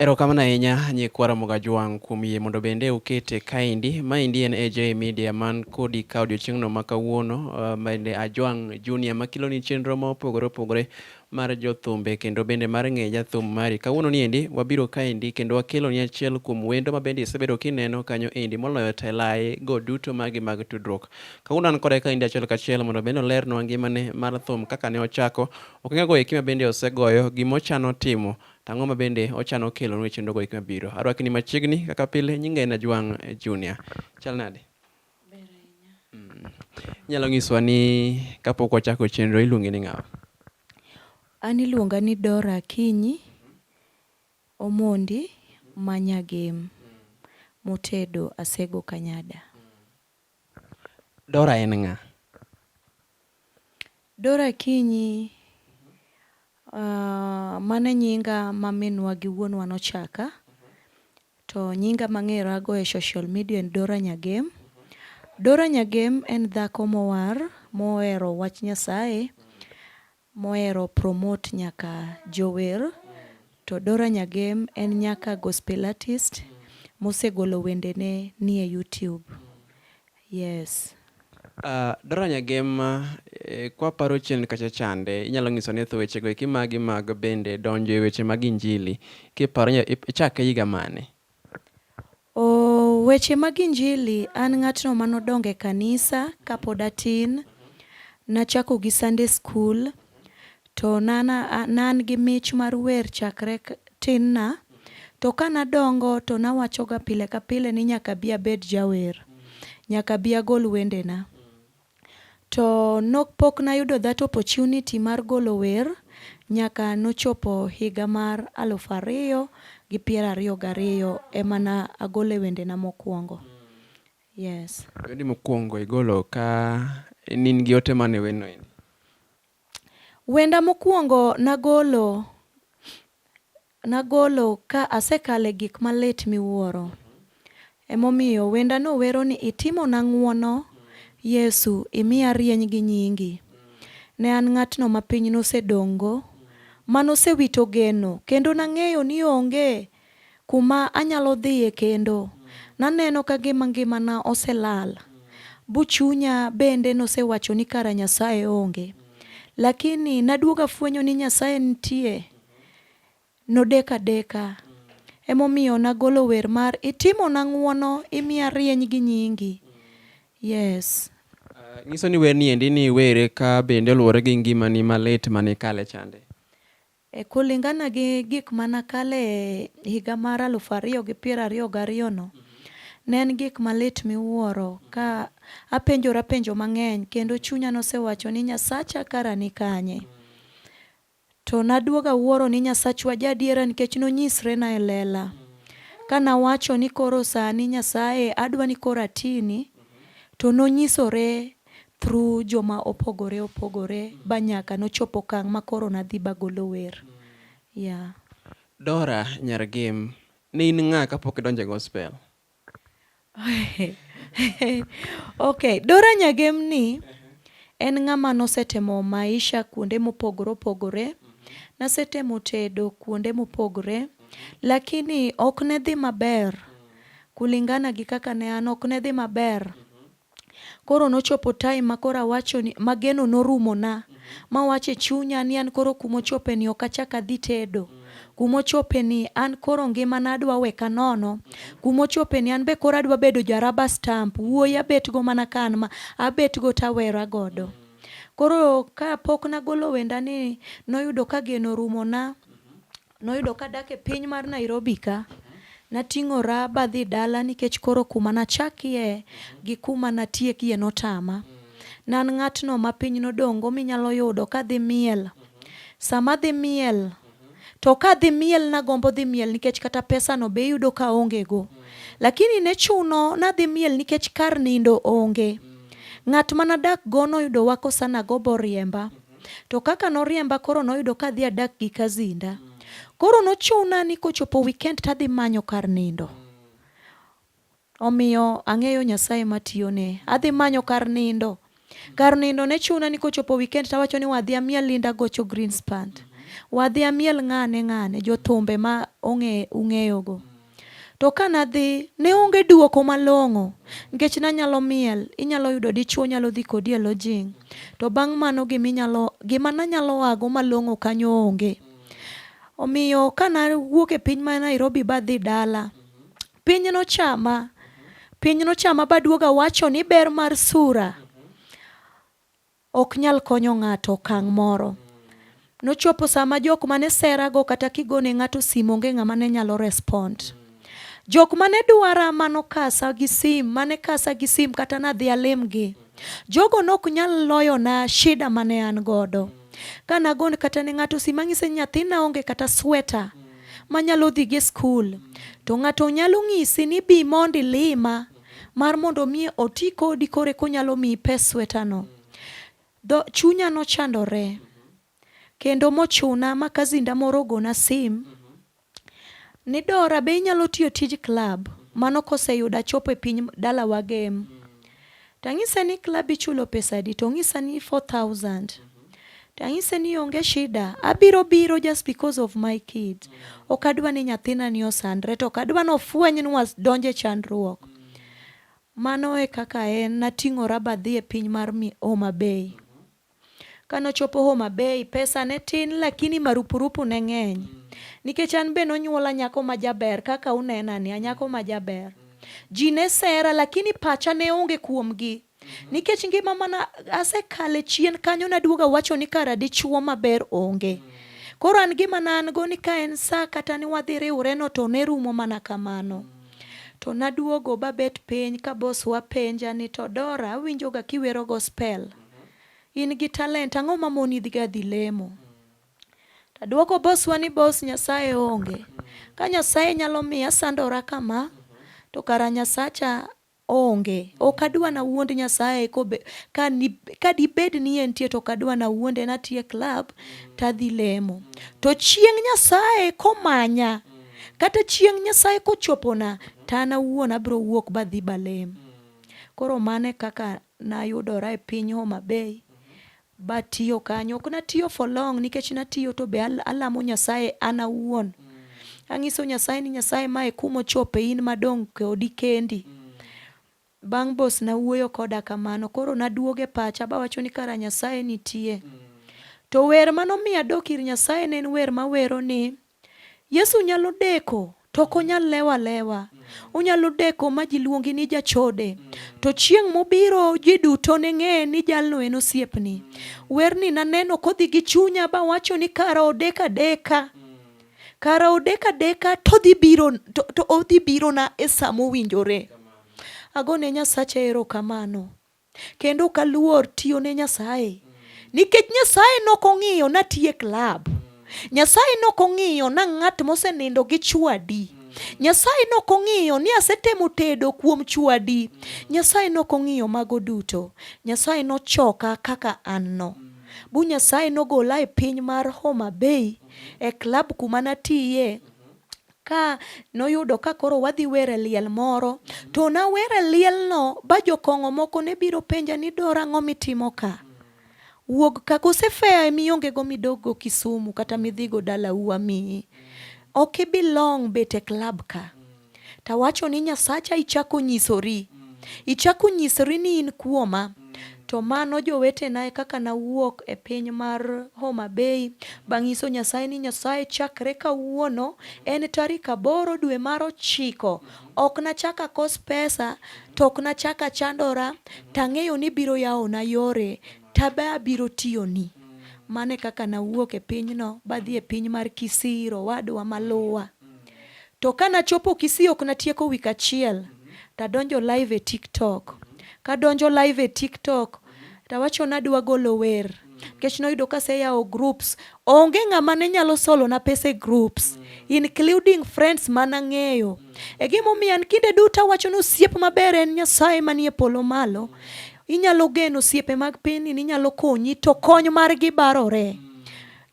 Erokamano ahinya nyikwa Ramogi Ajwang' kuom yie mondo bende ukete kaendi. Maendi en AJ Media man kodi ka odiochieng'no ma kawuono uh, bende Ajwang' Junior makiloni chenro ma opogore opogore mar jothumbe kendo bende mar ng'e jathum mari. Kawuono ni endi wabiro kaendi kendo wakeloni achiel kuom wendo ma bende isebedo kineno kanyo endi moloyo telaye go duto magi mag tudruok. Kawuono an kode kaendi achiel kachiel mondo bende olernwa ngimane mar thum kaka ne ochako, okengego eki ma bende osegoyo, gimochano timo To ang'o ma bende ochano kelonu e chenrogo hik mabiro? Arwakni machiegni kaka pile, nyinga en Ajwang' Junior. Chal nade? Mm. Inyalo nyiswa ni kapok wachako chenro iluongi ni ng'awa? An iluonga ni Dora Akinyi Omondi ma Nyagem motedo Asego Kanyada. Dora en ng'a? Dora Akinyi uh, mane nyinga ma minwa gi wuonwa nochaka to nyinga mang'era go e social media en Dora Nyagem. Dora Nyagem en dhako mowar mohero wach Nyasaye mohero promote nyaka jower to Dora Nyagem en nyaka gospel artist mosegolo wendene nie YouTube. Yes. Dora Nyagem kwaparo chien kacha chande inyalo nyiso ni thu wechego eki magi mag bende donjo e weche mag injili kiparo ichake higa mane? Oh, weche mag injili, an ng'atno mane odongo e kanisa kapod atin. Nachako gi Sunday school, to ne an ne an gi mich mar wer chakre tin na. To ka nadongo to nawachoga pile ka pile ni nyaka abi abed jawer. Nyaka abi agol wendena. To nok pok nayudo that opportunity mar golo wer nyaka nochopo higa mar alufu ariyo gi piero ariyo gariyo ema na agole wendena mokuongo. Yes. Wendi mokuongo igolo ka in in gi ote mane wenoendi? Wenda mokuongo nagolo nagolo ka asekale gik malit miwuoro. Emomiyo wenda no wero ni itimona ng'uono Yesu imiya rieny gi nyingi. Ne an ng'atno ma piny nosedong'go, manosewito geno kendo nang'eyo ni onge kuma anyalo dhiye kendo. Naneno ka gima ngimana oselal. Bu chunya bende nosewacho ni kara Nyasaye onge. Lakini naduogo afwenyo ni Nyasaye nitie. Nodeko adeka. Emomiyo nagolo wer mar itimona ng'uono imiya rieny gi nyingi. Yes. Uh, nyiso ni werni endi ni were ka bende oluwore gi ngimani malit mane kale chande. E Kulingana gi gik ma nakale e higa mar aluf ariyo gi piero ariyo gariyono, ne en gik malit miwuoro ka apenjora penjo mang'eny kendo chunya nosewacho ni Nyasacha kara ni kanye? To naduogo awuoro ni Nyasachwa jaadiera nikech nonyisrena e lela. Ka nawacho ni koro sani Nyasaye adwa ni koro atini, to nonyisore through joma opogore opogore ba nyaka nochop okang ma koro nadhi bagolo wer. Yeah. Dora nyar Gem, ne in ng'a kapok idonjo e gospel? Ok, Dora Nyagem ni en ng'ama nosetemo maisha kuonde mopogore opogore. Nasetemo tedo kuonde mopogore, lakini ok ne dhi maber kulingana gi kaka ne an, ok ne dhi maber. Koro nochopo time ma koro awacho ni ma geno norumona ma awacho e chunya ni an koro kuma ochope ni ok achak adhi tedo. Kuma ochope ni an koro ngimana adwa we ka nono. Kuma ochope ni an be koro adwa bedo ja rubber stamp, wuoyi abet go mana ka an ma, abet go to awera godo. Koro ka pok nagolo wenda ni noyudo ka geno orumona. Noyudo ka adak e piny mar Nairobi ka. Nating'ora badhi dala nikech koro kuma nachakie gi kuma natiekie notama. Nan ng'atno ma piny nodong'go minyalo yudo kadhi miel. Sama adhi miel, to kadhi miel nagombo dhi miel nikech kata pesano be iyudo ka aongego. Lakini ne chuno nadhi miel nikech kar nindo onge. Ng'at ma nadakgo noyudo wako sana go boriemba. To kaka noriemba koro noyudo ka adhi adak gi Kazinda. Koro nochuna ni kochopo weekend to adhi manyo kar nindo. Omiyo ang'eyo Nyasaye matiyone. Adhi manyo kar nindo. Kar nindo ne chuna ni kochopo weekend to awacho ni wadhi amiel Linda Gocho Greenspan. Wadhi amiel ng'ane ng'ane, jothumbe ma ung'eyogo. To ka nadhi, ne onge duoko malong'o, nikech nanyalo miel, inyalo yudo dichuo nyalo dhi kodi e lodging. To bang' mano gima inyalo, gima nanyalo ago malong'o kanyo onge. Omiyo ka nawuok e piny ma Nairobi badhi dala, piny nochama. Piny nochama baduoga wacho ni ber mar sura. Ok nyal konyo ng'ato okang' moro. Nochopo saa ma jok mane sera go kata kigone ng'ato sim onge ng'ama ne nyalo respond. Jok mane dwara ma nokasa gi sim mane kasa gi sim kata nadhi alim gi. Jogo nok nyal loyona shida mane an godo. Ka nagon kata ne ng'ato sim ang'ise ni nyathina onge kata sweta manyalo dhi go e skul. To ng'ato nyalo ng'isi ni bi mond ilima. mar mondo mi oti kodi kore konyalo miyi pes swetano. Dho chunya nochandore kendo mochuna ma kazinda moro ogona sim ni Dora be inyalo tiyo tij klab mano koseyudo achopo e piny dalawa gem. Tang'ise ni klab ichulo pesadi tong'isa ni 4000. to anyise ni onge shida, abiro biro just because of my kids. Ok adwa ni nyathina ni osandre, to ok adwa ni ofweny ni wadonjo e chandruok. Mano e kaka en, nating'ora badhi e piny mar Homa Bay. Kane ochopo Homa Bay, pesa ne tin lakini marupurupu ne ng'eny. Nikech an be nonyuola nyako ma jaber kaka unenani, anyako ma jaber. Ji ne sera lakini pacha ne onge kuomgi. Nikech ngima mana asekale chien kanyo naduoga wacho ni kara dichuo maber onge. Koro an gima na an go ni ka en sa kata ni wadhi riwre no to ne rumo mana kamano. To naduogo babet piny ka bos wapenja ni to Dora awinjo ga kiwero gospel. In gi talent ang'o ma moni dhi ga dhi lemo? Taduoko boswa ni bos Nyasaye onge. Ka Nyasaye nyalo miya sandora kama to kara Nyasacha Onge. Ok adwa nawuond Nyasaye kobe, ka, ni, ka dibed ni entie to ok adwa nawuonde natie club tadhi lemo. To chieng' Nyasaye komanya, kata chieng' Nyasaye kochopona, to an awuon abiro wuok badhi balem. Koro mano e kaka nayudora e piny Homa Bay. Batiyo kanyo ok natiyo for long nikech natiyo to be alamo Nyasaye an awuon. Anyiso Nyasaye ni Nyasaye mae kuma ochope in madong' kodi kendi. Bang' bos nawuoyo koda kamano koro naduoge pacha bawacho ni kara Nyasaye nitie. To wer manomiyo adok ir Nyasaye ne en wer mawero ni Yesu nyalo deko to ok onyal lewo alewa. Onyalo deko ma ji luongi ni jachode. To chieng' mobiro ji duto ne ng'e ni jalno en osiepni. Werni naneno kodhi gi chunya bawacho ni kara odek adeka. Kara odek adeka todhi biro to, to odhi birona e sa mowinjore. Agone Nyasacha erokamano Kendo ok aluor tiyo ne Nyasaye nikech Nyasaye nok ong'iyo natiye klab. Nyasaye nok ong'iyo na ng'at mosenindo gi chwadi. Nyasaye nok ong'iyo ni asetemo tedo kuom chwadi. Nyasaye nok ong'iyo mago duto. Nyasaye nochoka kaka an no. Bu Nyasaye nogola e piny mar Homa Bay e klab kuma natiye Ka noyudo ka koro wadhi wer e liel moro, to nawer e lielno ba jokong'o moko ne biro penja ni Dora ang'o mitimo ka? Wuog ka kose fare miongego midoggo Kisumu kata midhigo dalau amiyi. Ok i belong bet e club ka. Tawacho ni Nyasacha ichako nyisori. Ichako nyisori ni in kuoma. To mano jowetena e kaka nawuok e piny mar Homa Bay bang' nyiso Nyasaye ni Nyasaye chakre kawuono en tarik aboro dwe mar ochiko ok nachak akos pesa to ok nachak achandora tang'eyo ni biro yawona yore tabe abiro tiyoni. Mano e kaka nawuok e pinyno badhi e piny mar Kisii, Rowadwa maluwa. To ka nachopo Kisii ok natieko week achiel tadonjo live e TikTok. Kadonjo live e TikTok tawacho nadwa golo wer nikech noyudo kaseyawo groups. Onge ng'ama ne nyalo solona pesa e groups including friends mana ng'eyo. E gimomiyo an kinde duto awacho ni osiep maber en Nyasaye manie polo malo. Inyalo geno osiepe mag pinyni ni nyalo konyi to kony margi barore.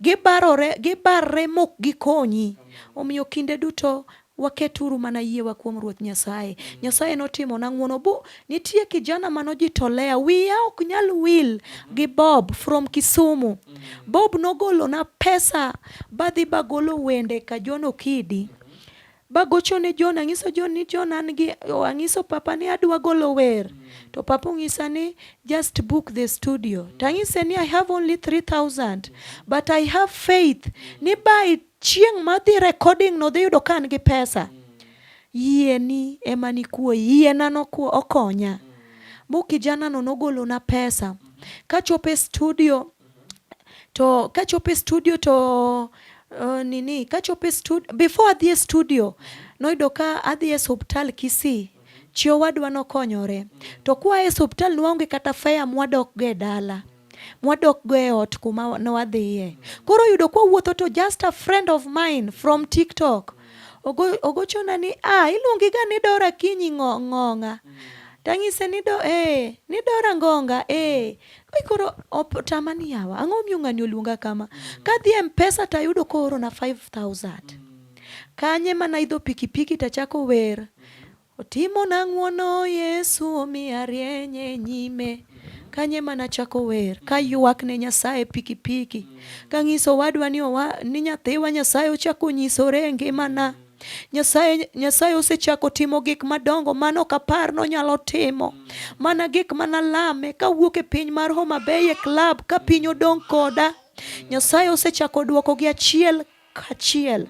Gibarore, gibarre mok gikonyi. Omiyo kinde duto waketuru mana yiewa kuom Ruoth Nyasaye. Nyasaye notimona ng'wono bu nitie kijana manojitolea wiya ok nyal wil gi Bob from Kisumu. Bob nogolona pesa badhi bagolo wende Kajono Kidi bagocho ne John angiso John ni John an gi oh, angiso papa ni adwa golo wer mm. to papa ongisa ni just book the studio mm. tangise ni I have only 3000 but I have faith mm. ni by chieng madhi recording no dhi yudo ka an gi pesa mm. yie ni ema ni kuo yie na no kuo okonya mm. mu kijana no nogolo na pesa mm. kachope studio to kachopo e studio to uh, nini kachopo e studio before adhi e studio noyudo ka adhi e hospital Kisii chi owadwa nokonyore to kwa e hospital nwaonge kata fare mwadok go e dala mwadok go e ot kuma ne wadhiye koro yudo kwa wuotho to just a friend of mine from TikTok ogo, ogochona ni ah iluongi ga ni Dora Kinyi ng'ong'a tang'ise ni do eh ni Dora ngonga eh koro otama ni yawa ang'o omiyo ng'ani oluonga kama kadhi e mpesa to ayudo koorona 5000 kanye mana idho pikipiki to achako wer otimona ng'wono yesu omiya rieny e nyime kanye mana chako wer ka ywak ne nyasaye pikipiki kang'iso wadwa ni, owa, ni nyathiwa nyasaye ochako onyisore e ngimana Nyasaye, Nyasaye osechako timo gik madongo mane ok apar nonyalo timo. Mana gik mane alame kawuok e piny mar Homa Bay e klab ka piny odong' koda. Nyasaye osechako duoko gi achiel kachiel.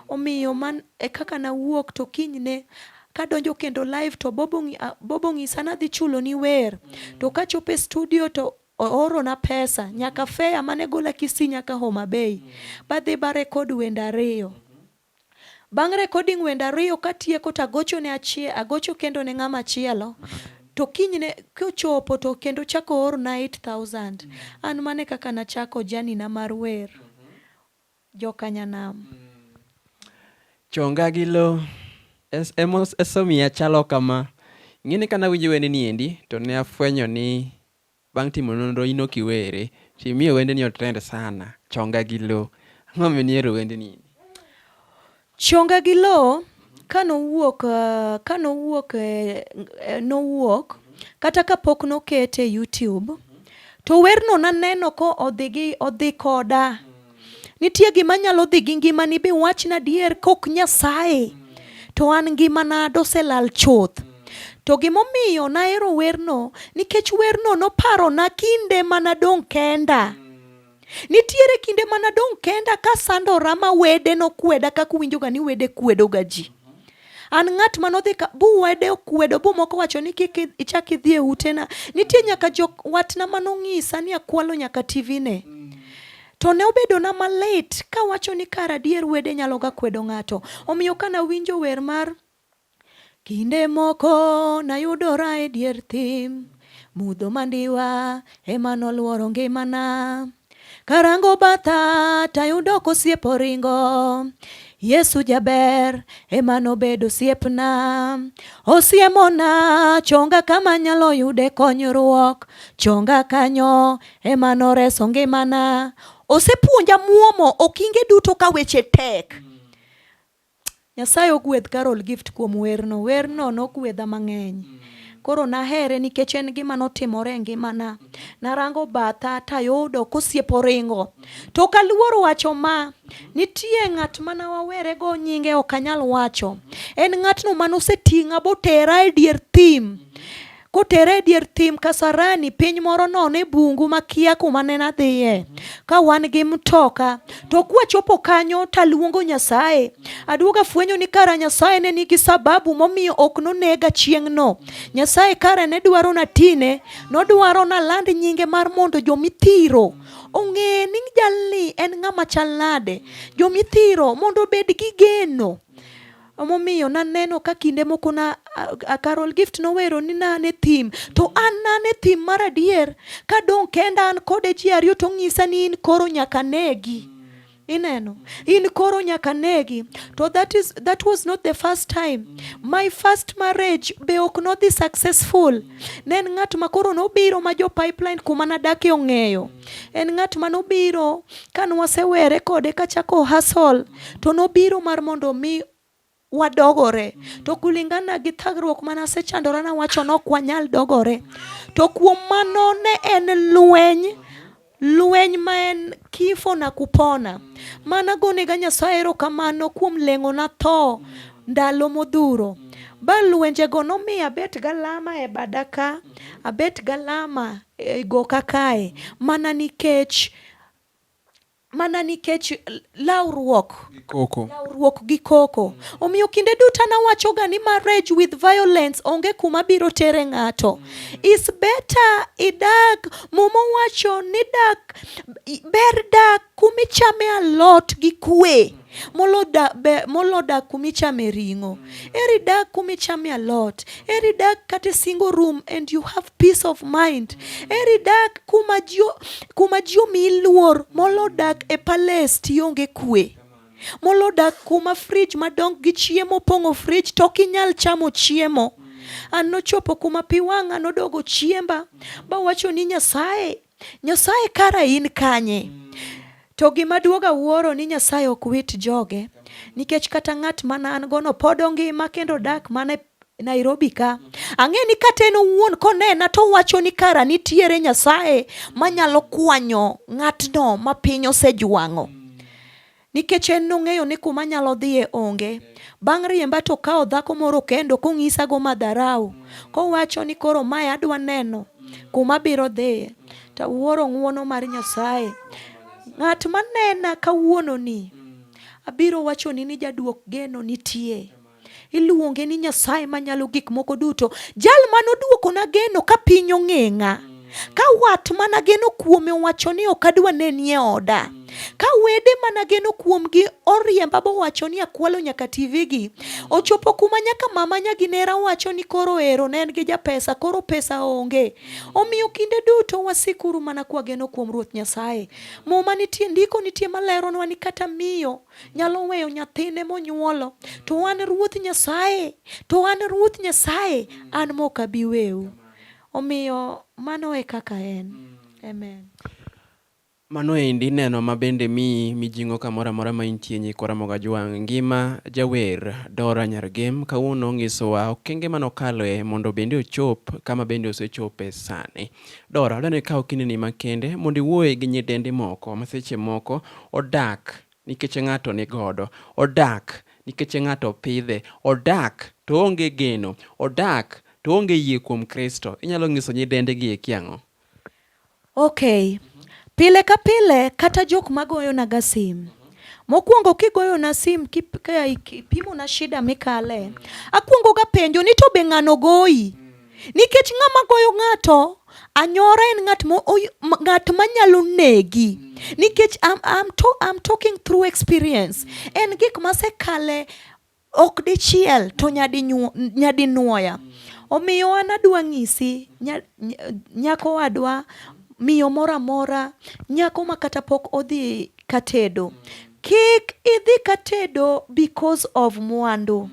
Omiyo man e kaka nawuok to kinyne kadonjo kendo live to Bobo, Bobo ng'isa nadhi chuloni wer. To kachopo e studio to Oorona pesa nyaka fea mane gola Kisii nyaka Homa Bay. Badhi ba record wende ariyo. Bang' recording wende ariyo katieko to agocho ne achie, agocho kendo ne ng'ama chielo. To kinyne kochopo to kendo chako oorna 8000. An mane kaka nachako journey na mar wer. Joka Nyanam. Chonga gi lo. Es, emos, esomiya chalo kama. Ing'eni ka nawinjo wende ni endi to ne afwenyo ni Bang' timo nonro in ok iwere to imiyo wendeni otrend sana, Chonga gi Lo. Ang'o momiyo nihero wendni? Chonga gi Lo ka nowuok, ka nowuok, nowuok kata ka pok nokete e YouTube to werno naneno ka odhi gi, odhi koda. Nitie gima nyalo dhi gi ngimani bi wachna adier kok Nyasaye to an ngimana doselal chuth. To gimomiyo nahero werno nikech werno noparona kinde manadong' kenda. Nitiere kinde manadong' kenda kasandora ma wede nokweda kaka uwinjoga ni wede kwedoga ji. An ng'at ma nodhi ka buwede okwedo bu moko wacho ni kik ichak idhi e utena. Nitie nyaka jok watna ma nong'isa ni akwalo nyaka TV ne. To ne obedo na malit ka wacho ni kar adier wede nyalo ga kwedo ng'ato. Omiyo ka nawinjo wer mar Kinde moko nayudora e dier thim, mudho mandiwa ema nolworo ngimana. Karango batha tayudo kosiep oringo Yesu jaber ema nobedo osiepna osiemona chonga kama nyalo yude konyruok chonga kanyo ema noreso ngimana osepuonja muomo okinge duto ka weche tek Nyasaye ogwedh Carol Gift kuom werno. Werno nogwedha mang'eny. Koro nahere nikech en gima notimore e ngimana. Narango batha tayudo kosiepo ringo. To ok aluor wacho ma, nitie ng'at mana wawere go nyinge ok anyal wacho. En ng'atno mane oseting'a botera e dier thim. kotere e dier thim Kasarani, piny moro nono e bungu makia kuma ne nadhiye ka wan gi mtoka. To kwachopo kanyo taluongo Nyasaye. Aduogo afwenyo ni kara Nyasaye ne nigi sababu momiyo ok nonega chieng'no. Nyasaye kare ne dwaro na tine, nodwaro na land nyinge mar mondo jomithiro ong'e ni jalni en ng'ama chal nade. Jomithiro mondo obed gi geno. Emomiyo naneno ka kinde moko na Carol Gift nowero ni nan e thim to an nan e thim mar adier ka dong' kenda an kode ji ariyo to ong'isa ni in koro nyaka negi. Ineno, in koro nyaka negi. To that is that was not the first time. My first marriage be ok nodhi successful. Ne en ng'at ma koro nobiro ma jo pipeline kuma nadake ong'eyo. en ng'at ma nobiro ka nwasewere kode kachako hasol to nobiro mar mondo mi wadogore to kulingana gi thagruok mana asechandora na wacho nok wanyal dogore to kuom mano ne en lweny lweny ma en kifo na kupona mana gonega nyasaye erokamano kuom leng'o na tho ndalo modhuro ba lwenjego nomiyo abet galama e bada ka abet galama e goka kae mana nikech mana nikech lawruok koko. lawruok gi koko. Omiyo kinde duto an awachoga ni marriage with violence onge kuma biro tere ng'ato. Is better idag, muma owacho ni dak, ber dak kumichame alot gi kwe. molo dak, be, molo dak kuma ichame ring'o eri dak kuma ichame alot eri dak kata e single room and you have peace of mind eri dak kuma ji kuma ji omiyi luor molo dak e palace tionge kwe molo dak kuma frij madongo gi chiemo opong'o frij to ok inyal chamo chiemo an nochopo kuma pi wang'a nodogo chiemba bawacho ni nyasaye Nyasaye kara in kanye? Mm. To gima duoga wuoro ni Nyasaye ok wit joge nikech kata ng'at mana an gono pod ongima kendo dak mana Nairobi ka. Ang'e ni kata en owuon konena to wacho ni kara nitiere Nyasaye manyalo kwanyo ng'atno ma piny osejwang'o. Nikech en nong'eyo ni kuma anyalo dhiye onge. Bang' riemba to okawo dhako moro kendo kong'isago madharau, kowacho ni koro mae adwa neno kuma abiro dhiye. To awuoro ng'wono mar Nyasaye. Ng'at manena kawuononi, abiro wachoni ni jaduok geno nitie. Iluonge ni Nyasaye manyalo gik moko duto, jal mane oduokona geno ka piny ong'eng'a. Ka wat mana geno kuome owacho ni ok adwa nenie oda. Ka wede mana geno kuomgi oriemba bowacho ni akwalo nyaka TV gi. Ochopo kuma nyaka mama nyaginera wacho ni koro ero ne en gi japesa, koro pesa onge. Omiyo kinde duto wasikuru mana kwageno kuom Ruoth Nyasaye. Muma nitie, ndiko nitie maleronwa ni kata miyo nyalo weyo nyathine monyuolo to an ruoth nyasaye to an ruoth nyasaye an mok abi wewu omiyo mano e kaka en amen mano endi neno ma bende mi mijing'o kamoro amora ma intie nyikwa Ramogi Ajwang' ngima jawer Dora Nyargem kawuono nyisowa okenge mane okaloe mondo bende ochop kama bende osechope sani. Dora, dwani ikaw kindeni makende mondo iwuoye gi nyidendi moko ma seche moko odak nikech ng'ato ni godo, odak nikech ng'ato pidhe, odak to onge geno, odak to onge yie kuom Kristo. Inyalo nyiso nyidendi gi eki ang'o? Okay. Pile ka pile kata jok magoyona ga sim Mokwongo kigoyona sim kipimona shida mikale, akwongoga penjo ni to be ng'ano goyi? Nikech ng'ama goyo ng'ato anyora en ng'at mo ng'at manyalo negi. Nikech I'm, I'm, to, I'm talking through experience. En gik masekale ok dichiel to nyadi nyadi nwoya. Omiyo an adwa ng'isi nyako wadwa miyo moro amora nyako ma kata pok odhi katedo. Kik idhi katedo because of mwandu.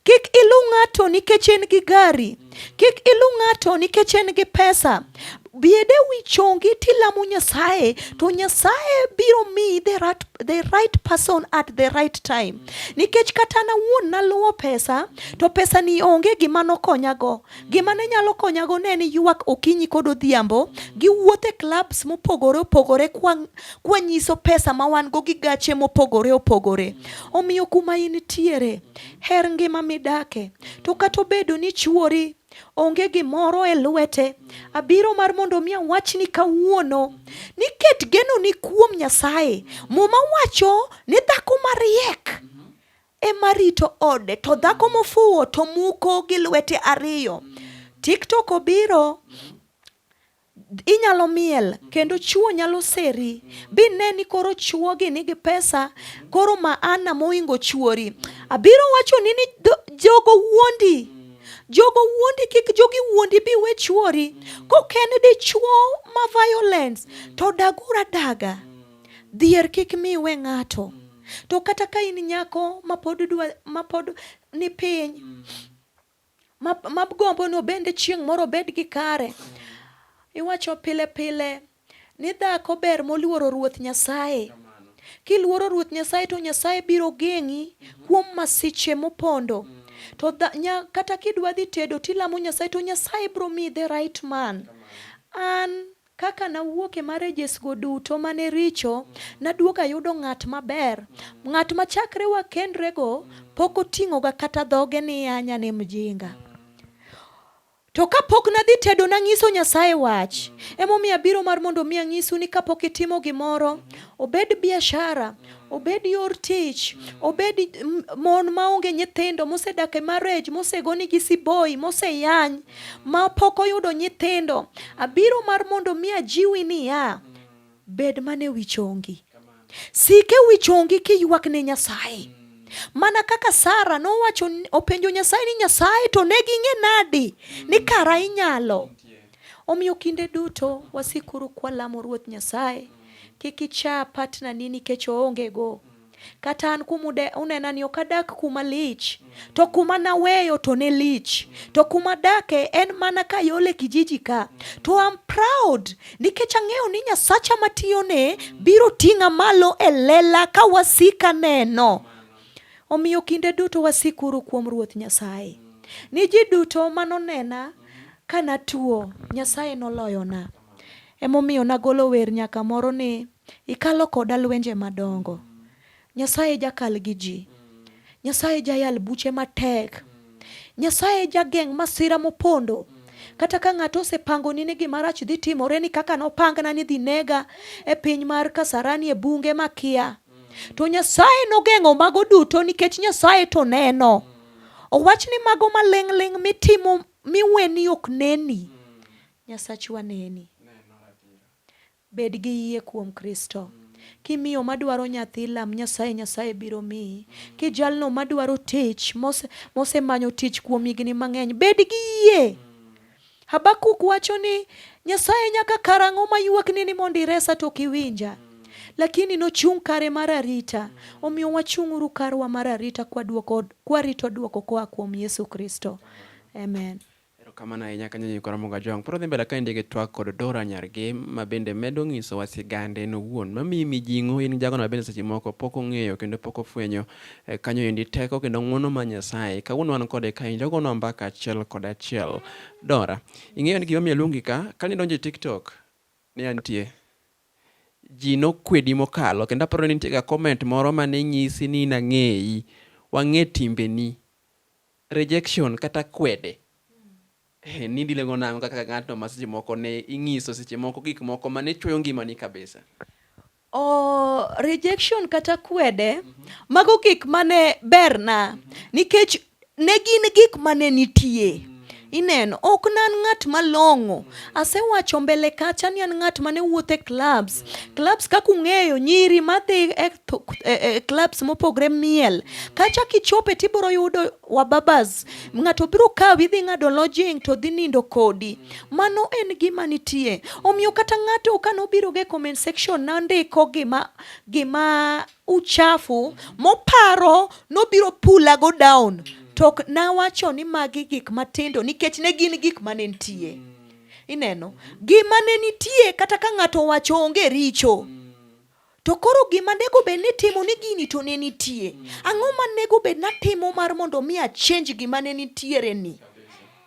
Kik iluw ng'ato nikech en gi gari. Kik iluw ng'ato nikech en gi pesa. Biede wi chongi tilamo Nyasaye to Nyasaye biro miyi the right, the right person at the right time. Nikech kata nawuon naluwo pesa to pesa ni onge gima nokonyago. Gima ne nyalo konyago ne ni ywak okinyi kod odhiambo, giwuotho e clubs mopogore opogore kwanyiso pesa ma wan go gi gache mopogore opogore. Omiyo kuma in tiere, her ngima midake. To kata obedo ni chuori onge gimoro e lwete, abiro mar mondo mi awachni kawuono ni ket geno ni kuom Nyasaye. Muma wacho ni dhako mariek ema rito ode to dhako mofuwo to muko gi lwete ariyo. TikTok obiro inyalo miel kendo chuo nyalo seri bi ne ni koro chuo gi nigi pesa koro maana moingo chuori abiro wacho ni ni jogo wuondi jogo wuondi kik jogi wuondi bi we chuori koken dichuo ma violence to dagura daga Dhier kik mi iwe ng'ato. Mm. To kata ka in nyako mapod dwa mapod ni piny mm. mabgombo no bende chieng' moro bed gi kare. Mm. Iwacho pile pile ni dhako ber moluoro Ruoth Nyasaye. Kiluoro Ruoth Nyasaye to Nyasaye biro geng'i mm-hmm. kuom masiche mopondo. Mm. To da, nya, kata kidwa dhi tedo tilamo Nyasaye to Nyasaye biro miyi the right man. An Kaka nawuok e marriagesgo duto ma ne richo, naduogo ayudo ng'at maber, ng'at ma chakre wakendrego pok oting'oga kata dhoge ni an ane mjinga. To ka pok nadhi tedo, nanyiso Nyasaye wach. Emomiyo abiro mar mondo mi anyisu ni kapok itimo gimoro, obed biashara, obed yor tich, obed mon maonge nyithindo, mosedak e marriage, mosegoni gi siboi, moseyany, ma pok oyudo nyithindo. Abiro mar mondo mi ajiwi niya, bed mana e wi chongi. Sik e wi chongi kiywak ne Nyasaye. Mana kaka Sara nowacho openjo Nyasaye ni Nyasaye to ne ging'e nadi ni kara inyalo. Omiyo kinde duto wasikuru kwalamo Ruoth Nyasaye. Kik icha partner ni nikech oonge go. Kata an kuma unena ni ok adak kuma lich, to kuma naweyo to ne lich. To kuma adake en mana ka yole kijiji ka. To I'm proud nikech ang'eyo ni Nyasacha matiyone biro ting'a malo e lela ka wasika neno. Omiyo kinde duto wasikuru kuom Ruoth Nyasaye. Ni ji duto manonena ka natuo, Nyasaye noloyona. Emomiyo nagolo wer nyaka moro ni ikalo koda lwenje madongo. Nyasaye jakal gi ji. Nyasaye jayal buche matek. Nyasaye jageng' masira mopondo. Kata ka ng'ato osepangoni ni gima rach dhi timore ni kaka nopangna ni dhi nega e piny mar Kasarani e bunge makia. To Nyasaye nogeng'o mago duto nikech Nyasaye to neno. Owach ni mago maling'ling' mitimo miweni ok neni. Nyasachwa neni. Bed gi yie kuom Kristo. Kimiyo madwaro nyathi lam Nyasaye, Nyasaye biro miyi. Kijalno madwaro tich mose, mosemanyo tich kuom higni mang'eny, bed gi yie. Habakuk wacho ni Nyasaye nyaka karang'o mayuakni ni mondo iresa to ok iwinja lakini nochung' kare mar arita. Omiyo wachung'uru karwa mar arita kwaduoko, kwarito duoko koa kuom Yesu Kristo. Amen. Erokamano ahinya kanyo Nyikwa Ramogi Ajwang'. Pod wadhi mbele ka indie gi twak kod Dora Nyargem ma bende medo ng'isowa sigande en owuon mamiyi mijing'o in gi jagono ma bende seche moko pok ong'eyo kendo pok ofwenyo eh, kanyo endi teko kendo ng'wono ma Nyasaye. Kawuono wan kode ka injo gono mbaka achiel kod achiel. Dora, ing'eyo ni gimomiyo aluongi ka, kane idonjo e TikTok ne antie ji nokwedi mokalo kendo aparo ni nitiega comment moro mane nyisi ni nang'eyi wang'e timbeni Rejection kata kwede. Eh, ni dilego nango kaka ng'atno ma seche moko ne ing'iso seche moko gik moko ma ne chweyo ngimani kabisa. Oh, rejection kata kwede, mm -hmm. mago gik mane berna mm -hmm. nikech ne gin gik mane nitie. Mm -hmm. Ineno, ok nan ng'at malong'o Asewacho mbele kacha ni an ng'at mane wuotho e clubs. Clubs kaka ung'eyo nyiri madhi e, e, e clubs mopogre miel. Kacha kichope tibiro yudo wababas. Ng'ato biro kawi dhi ng'ado lodging to dhi nindo kodi. Mano en gima nitie. Omiyo kata ng'ato kano biro ge comment section nandiko gima gima uchafu moparo nobiro pula go down to ok nawacho ni magi gik matindo nikech ne gin gik mane nitie ineno gima ne nitie kata ka ng'ato wacho onge richo to koro gima nego bed ni timo ni gini to ne nitie ang'o ma nego bed natimo mar mondo mi achenj gima ne nitiere ni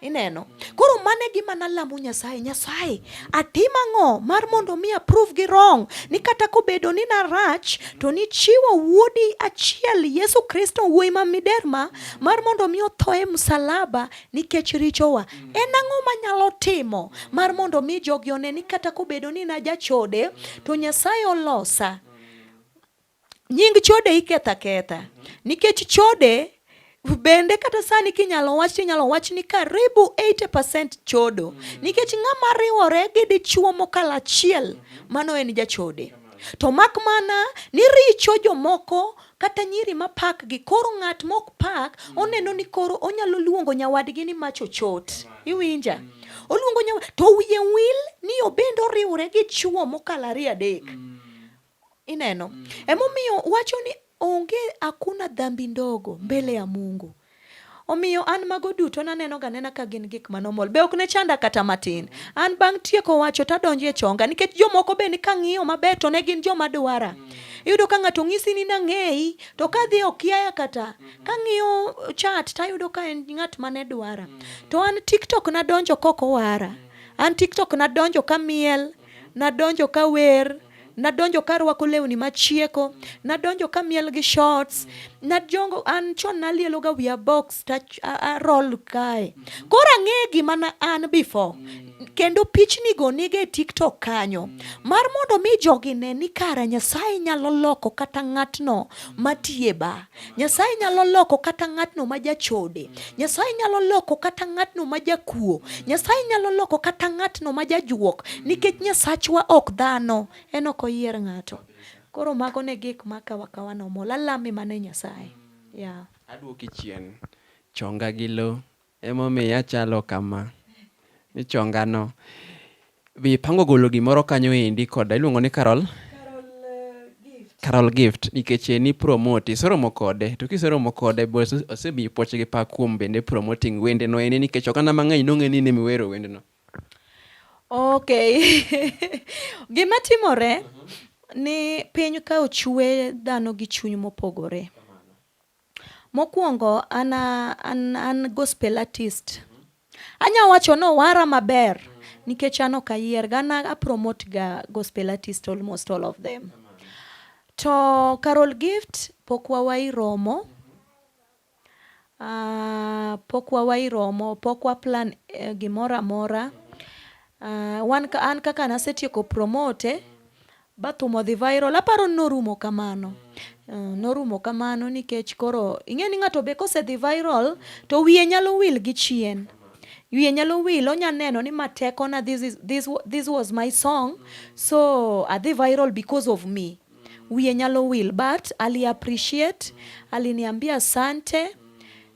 Ineno? Koro mane gima nalamo Nyasaye, Nyasaye, atim ang'o mar mondo mi approve gi wrong ni kata kobedo ni narach to nichiwo wuodi achiel Yesu Kristo wuoyi ma miderma mar mondo mi otho e msalaba nikech richowa. En ang'o manyalo timo mar mondo mi jogi one ni kata kobedo ni najachode to Nyasaye olosa nying chode iketho aketha nikech chode bende kata sani kinyalo wach tinyalo wach ni karibu 80% chodo nikech ng'ama riwore gi dichuo mokalo achiel mano en jachode to mak mana ni richo jomoko kata nyiri ma pak gi koro ng'at mok pak oneno ni koro onyalo luongo nyawadgi ni mach ochot iwinja oluongo nyawad to wiye wil ni obende oriwore gi chuo mokalo ariyo adek mm. Ineno? Mm. Emomiyo wacho ni onge akuna dhambi ndogo mbele ya Mungu. Omiyo an mago duto naneno ga nena ka gin gik manomol. Be ok ne chanda kata matin. An bang' tieko wacho to adonjo e chonga nikech jomoko be ni kang'iyo maber to ne gin joma dwara. Mm. Iyudo ka ng'ato ng'isi ni nang'eyi to ka dhi okiaya kata mm-hmm. kang'iyo chat to ayudo ka en ng'at ma ne dwara. Mm. To an TikTok nadonjo kok owara. An TikTok nadonjo ka miel, nadonjo ka wer. nadonjo ka rwako lewni machieko, nadonjo ka miel gi shorts, najongo an chon nalielo ga wiya box ta roll kae. Koro ang'eyo gima na an before. Kendo pichni go nige TikTok kanyo. Mar mondo mi jogi ne ni kara Nyasaye nyalo loko kata ng'atno matiye ba. Nyasaye nyalo loko kata ng'atno ma jachode. Nyasaye nyalo loko kata ng'atno ma jakuo. Nyasaye nyalo loko kata ng'atno ma jajuok. Nikech Nyasachwa ok dhano, en ok oyier ng'ato. Koro mago ne gik ma kawa kawa nomol. Alame mana e Nyasaye. Yeah. Aduoki chien. Chonga gi lo. Emomiyo achalo kama. Michonga no. Be ipango golo gimoro kanyo endi koda iluongo ni Carol? Carol Gift nikech en ipromote iseromo kode to kiseromo kode bo osemiyi puoch gi pak kuom bende promoting wende no ene nikech oganda mang'eny nong'e ni nimi wero wende no. Okay. Gima timore ni piny ka ochwe dhano gi chuny mopogore. Mokwongo an an an gospel artist. Anya wacho ni owara maber nikech an ok ayier ga an a promote ga gospel artist almost all of them. To Carol Gift pok wawayi romo. Uh, pok wawayi romo, pok wa plan uh, gimoro amora. Uh, wan, an kaka nasetieko promote, Bathum odhi viral. Aparo ni norumo kamano. Uh, norumo kamano nikech koro ing'e ni ng'ato be kosedhi viral to wiye nyalo wil gi chien. Wiye nyalo wil, onya neno ni ma tekona this, is, this, this was my song so adhi viral because of me. Wiye nyalo wil but ali appreciate, aliniambia asante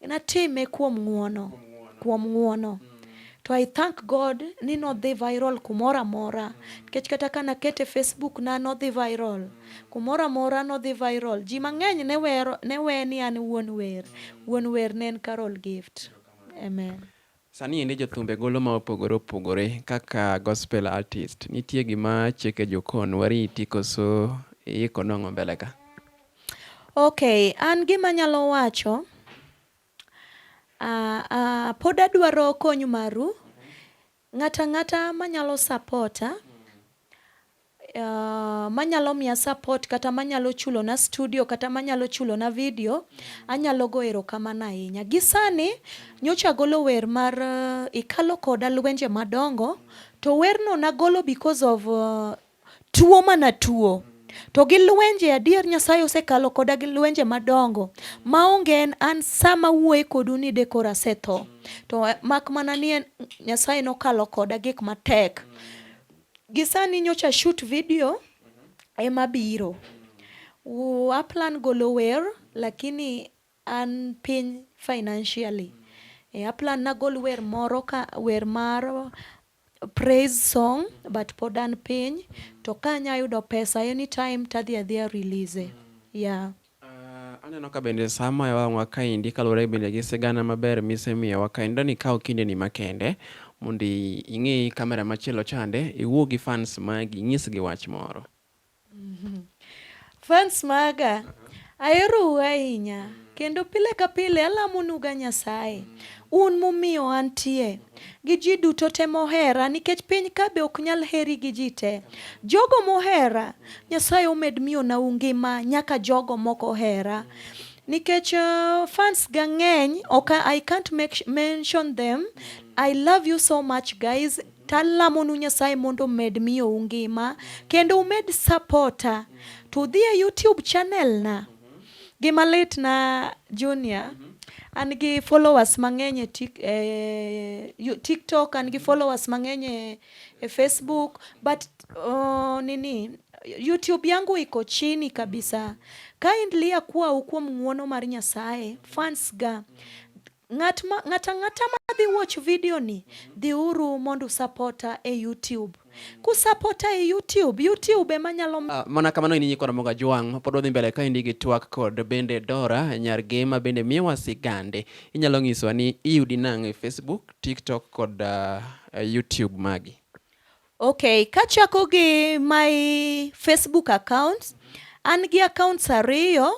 Natime kuom ng'uono, kuom ng'uono. To I thank God ni nodhi viral kumoro amora. Nikech kata ka nakete Facebook na nodhi viral. Kumoro amora nodhi viral. Ji mang'eny ne wero, ne we ni an wuon wer. Wuon wer ne en Carol Gift. Amen. Sani endi jothumbe golo ma opogore opogore kaka gospel artist. Nitie gima cheke jokon wariti koso iiko nong'o mbele ka? Okay, an gima nyalo wacho uh, uh, pod adwaro kony maru ng'ata ng'ata manyalo sapota Uh, manyalo miya support kata manyalo chulona studio kata manyalo chulona video anyalo go erokamano ahinya. Gi sani nyocha agolo wer mar uh, ikalo koda lwenje madongo to werno nagolo because of uh, tuo mana tuo to gi lwenje adier Nyasaye osekalo koda gi lwenje madongo maonge en an sama wuoye kodu ni de koro asetho to eh, mak mana ni Nyasaye nokalo koda gik matek. Gisani nyocha shoot video ema biro. U- Aplan golo wer lakini an piny financially. E, aplan nagol wer moro ka wer mar praise song but pod an piny to ka anyayudo pesa anytime tadhi adhiya release. Yeah. Aneno ka bende sa moya wang'wa kaendi kaluwore bende gi sigana maber misemiyowa kaendi dani ikaw kindeni makende mondo ing'i kamera machielo chande iwuo gi fans magi inyisgi wach moro. Mm-hmm. Fans maga aherou ahinya kendo pile ka pile alamonuga Nyasaye un mumiyo antie Gi ji duto te mohera, nikech piny ka be ok nyal heri gi ji te. Jogo mohera, Nyasaye omed miyona u ngima nyaka jogo mok ohera. Nikech uh, fans ga ng'eny, okay, I can't make, mention them. I love you so much guys. Talamonu Nyasaye mondo omed miyo u ngima kendo umed sapota. To udhi e YouTube channel na Gima lit na Junior, mm -hmm. an gi followers mang'eny e tik, eh, TikTok, an gi followers mang'eny e, e Facebook, but uh, nini YouTube yangu iko chini kabisa. Kindly akuwa kuom ng'uono mar Nyasaye, fans ga. Ng'at ma, ng'at ang'ata madhi watch video ni, dhi uru mondo usapota e YouTube. Kusapota e YouTube, YouTube ema nyalo... Uh, mana kamano in nyikwa Ramoga Jwang' mapod wadhi mbele kaendi gi twak kod bende Dora nyar Gema bende miyowa sigande. Inyalo nyisowa ni iyudi nang' e Facebook, TikTok kod uh, YouTube magi. Okay, kachako gi my Facebook account, an gi accounts ariyo,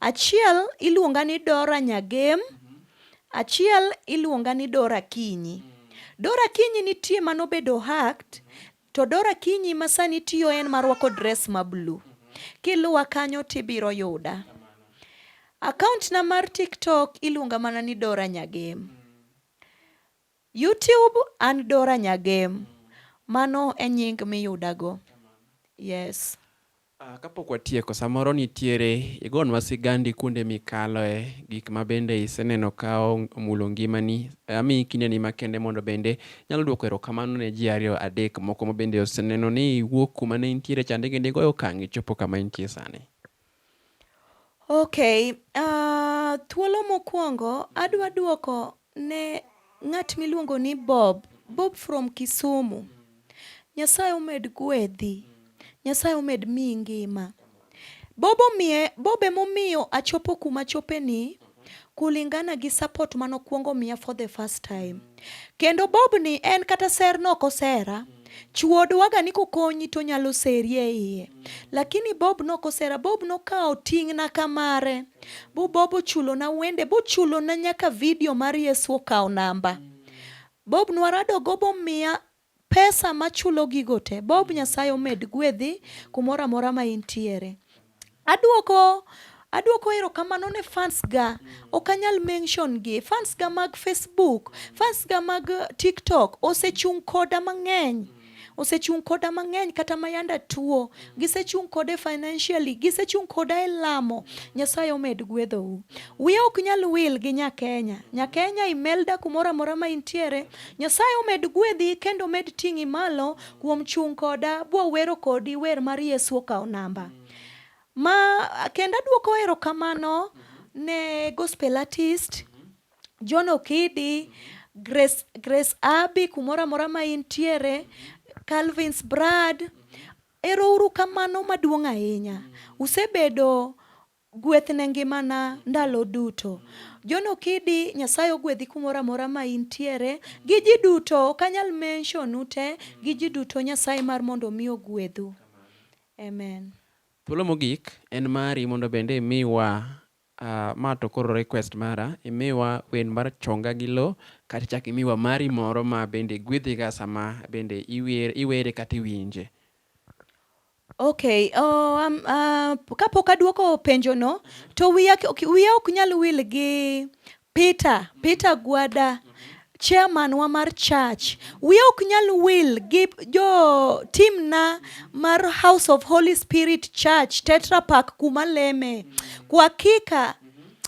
achiel iluonga ni Dora Nyagem, achiel iluonga ni Dora Kinyi. Dora Kinyi nitie manobedo hacked, to Dora Kinyi masani tiyo en marwako dress ma blue. Kiluwa kanyo tibiro yuda. Account na mar TikTok iluonga mana ni Dora Nyagem. YouTube an Dora Nyagem. Mano e nying miyuda go. Yes. Ah, kapok watieko, samoro nitiere igonwa sigandi kuonde mikaloe gik ma bende iseneno ka omulo ngimani. Eh, amiyi kindeni makende mondo bende nyalo duoko erokamano ne ji ariyo adek moko ma bende oseneno ni iwuok kuma ne intiere chande kendo igoyo okang' ichopo kama intie sani. Okay, uh, thuolo mokwongo adwa duoko ne ng'at miluongo ni Bob, Bob from Kisumu. Nyasaye omed gwedhi, Nyasaye omed miyi ngima. Bob omiye, Bob emomiyo achopo kuma chopeni kulingana gi support mane okuongo miya for the first time. Kendo Bob ni en kata ser no ok osera. Chuo dwaga ni kokonyi to nyalo seri e iye. Lakini Bob no ok osera. Bob nokawo ting'na kamare. Bu Bob ochulona wende, bochulona nyaka video mar Yesu okawo namba. Bob nwarado go bomiya Pesa machulo gigo te. Bob nyasaye omed gwedhi kumoro amora ma intiere. Aduoko Aduoko erokamano ne fans ga. Ok anyal mention gi. Fans ga mag Facebook, fans ga mag TikTok osechung' koda mang'eny. Osechung' koda mang'eny kata ma yanda tuo. Gisechung' koda e financially, gisechung' koda e lamo. Nyasaye omed gwedhou. Wiya ok nyal wil gi Nyakenya. Nyakenya Imelda kumoro amora ma intiere. Nyasaye omed gwedhi kendo omed ting'i malo kuom chung' koda bwo wero kodi wer mar Yesu okawo namba. Ma kendo adwoko erokamano ne gospel artist John Okidi, Grace, Grace Abi kumoro amora ma intiere, Calvins Brad. Erouru kamano maduong' ahinya. Usebedo Gweth ne ngimana ndalo duto. John Okidi, Nyasaye ogwedhi kumoro amora ma intiere gi ji duto, ok anyal mention u te gi ji duto, Nyasaye mar mondo omi ogwedhu. Amen. Thuolo mogik en mari mondo bende imiwa ma to koro request mara imiwa wen mar chonga gi lo kata chak imiwa mari moro ma bende gwedhiga sama bende iwere kata iwinje. Okay, oh, um, uh, kapok aduoko penjono to wiya wiya ok nyal wil gi Peter, Peter Gwada chairman wa mar church. Wiya ok nyal wil gi jo team na mar House of Holy Spirit Church Tetra Pak kuma leme. Kwa hakika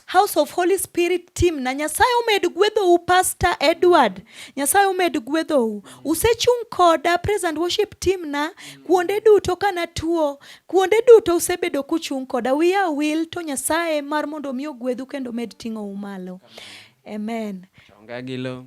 House of Holy Spirit team na Nyasaye omed gwedhou Pastor Edward. Nyasaye omed gwedhou. Usechung' koda praise and worship team na kuonde duto kana tuo. Kuonde duto usebedo kuchung' koda wiya wil to Nyasaye mar mondo mi ogwedhu kendo med ting'ou malo. Amen. Chonga gi lo.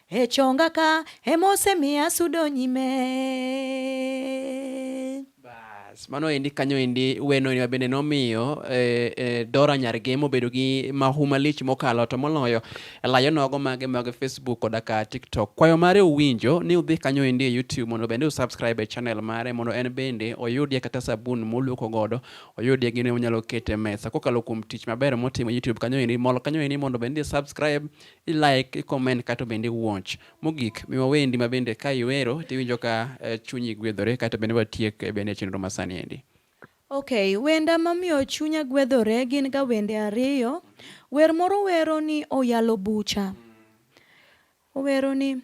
E chonga ka emosemiya sudo nyime. Bas, mano endi kanyo endi weno ni bende nomiyo eh, eh, Dora Nyargemo bedo gi mahu malich mokalo to moloyo layo nogo mage mag Facebook koda ka TikTok. Kwayo mare uwinjo ni udhi kanyo endi e YouTube mondo bende usubscribe e channel mare mondo en bende oyudie kata sabun moluoko godo, oyudie gine onyalo kete mesa kokalo kuom tich maber motimo e YouTube kanyo endi. Mol kanyo endi mondo bende subscribe i like, i comment kato bende watch. Mogik, miwa wendi ma bende ka iwero to iwinjo ka eh, chunyi gwedhore kato bende watiek eh, bende chenro ma sani endi. Okay, wenda mamiyo chunya gwedhore gin ga wende ariyo. Wer moro wero ni oyalo bucha. Owero ni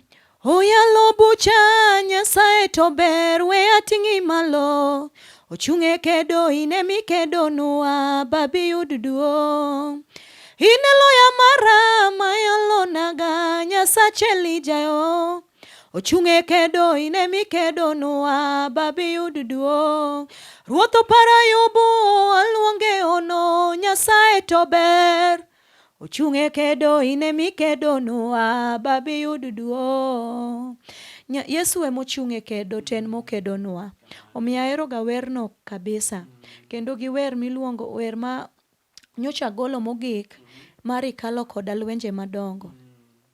Oyalo bucha Nyasaye to ber we ating'i malo ochung' e kedo in emi kedonwa babi yud duong' in e loya mara ma yalonaga Nyasache Elijayo ochung' e kedo in emi kedonwa babi yud duong' Ruoth oparo Ayubu aluonge ono Nyasaye to ber Ochung' e kedo in ema ikedonwa Baba iyud duong'. Nya- Yesu ema ochung' e kedo to en mokedonwa. Omiyo aheroga werno kabisa. Kendo gi wer miluongo wer ma nyocha agolo mogik mar ikalo koda lwenje madongo.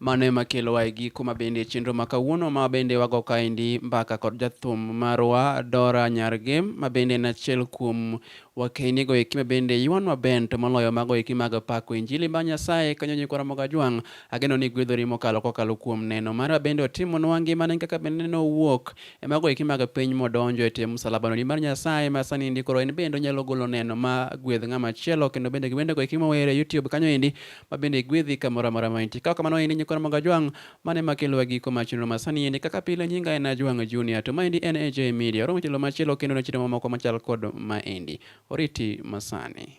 Mano ema kelowa e giko ma bende e chenro ma kawuono ma bende wago kaendi mbaka kod jathum marwa Dora Nyarge ma bende en achiel kuom wakeyni go eki ma bende ywanwa bend to moloyo mago eki mag pako injili mar Nyasaye kanyo nyikwa Ramogi Ajwang' ageno ni igwedhori mokalo kokalo kuom neno mara bende otimonwa ngimane kaka bende neno owuok e mago eki mag piny modonjo e tie msalabano nimar Nyasaye ma sani ndi koro en bende onyalo golo neno ma gwedh ng'ama chielo kendo bende gi wendego eki mower e YouTube kanyo endi ma bende igwedhi kamoro amora ma intie. Kaok kamano in inyikona moga jwang' mane ma kelowa giko ma chenro ma sani endi kaka pile nyinga en Ajwang' Junior to maendi en AJ Media. Oromo chelo machielo kendo ne chiro mamoko machal kod maendi. Oriti masani.